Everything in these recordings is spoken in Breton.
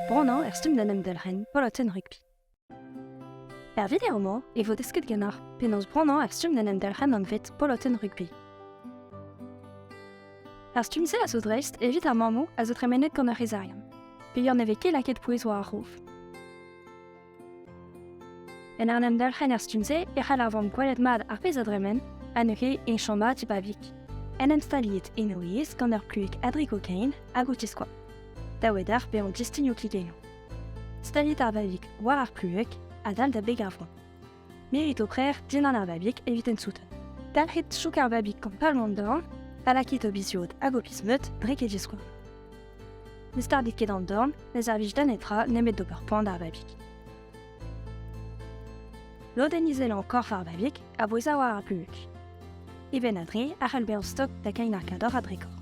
Branañ er stumm d'en em delc'hen polotenn rugby. Er video-mañ e vo desket ganeoc'h penaos branañ er stumm d'en em delc'hen anvet polotenn rugby. Ar stumm-se a zo dreist evit ar mammoù a zo tremenet gant ur c'hezarian. Peger ne vez ket lakaet pouez war ar rouf. En arn emdelc'hen er stumm-se e c'hall ar vamm gwelet mat ar pezh a dremen, ha neuze e chom mat e babig. En em staliet en o yezh gant ur plueg a dri kokain hag o tiskoaz. Da wedar bezañ distignoù kligennoù. Staliet ar babig war ar plueg, a dal da beg ar vro. Mirit ho prer dindan ar babig evit ensouten. Dalc'hit chouk ar babig gant palmant dorn, pa lakit ho biziod hag ho pismeud dre ket diskouarn. Ne stardit ket an dorn, ne servij da netra nemet d'ober poan d'ar babig. Lodenn izelañ korf ar babig a bouez war ar puñs. E benn a dre a c'hell bezañ stok da kein ar kador a drekor.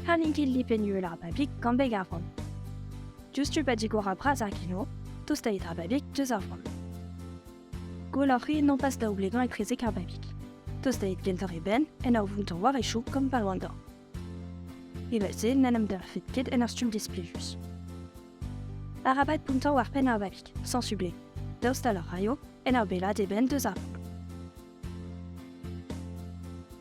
Ha n'int ket lipenn-uhel ar babig gant beg ar vran. Diouzhtu pa digor ar bras ar gino, tostait ar babig deus ar vran. Gwell oc'h ri non pas daoublegañ etrezek ar babig. Tostait gentoc'h e benn en ur vountañ war e chouk gant Palwandor. Evel-se n'en em dalc'hfet ket en ur stumm displejus. Arabat bountañ war penn ar babig, sans sublé, daoust a raio en ur bellaat e benn deus ar vran.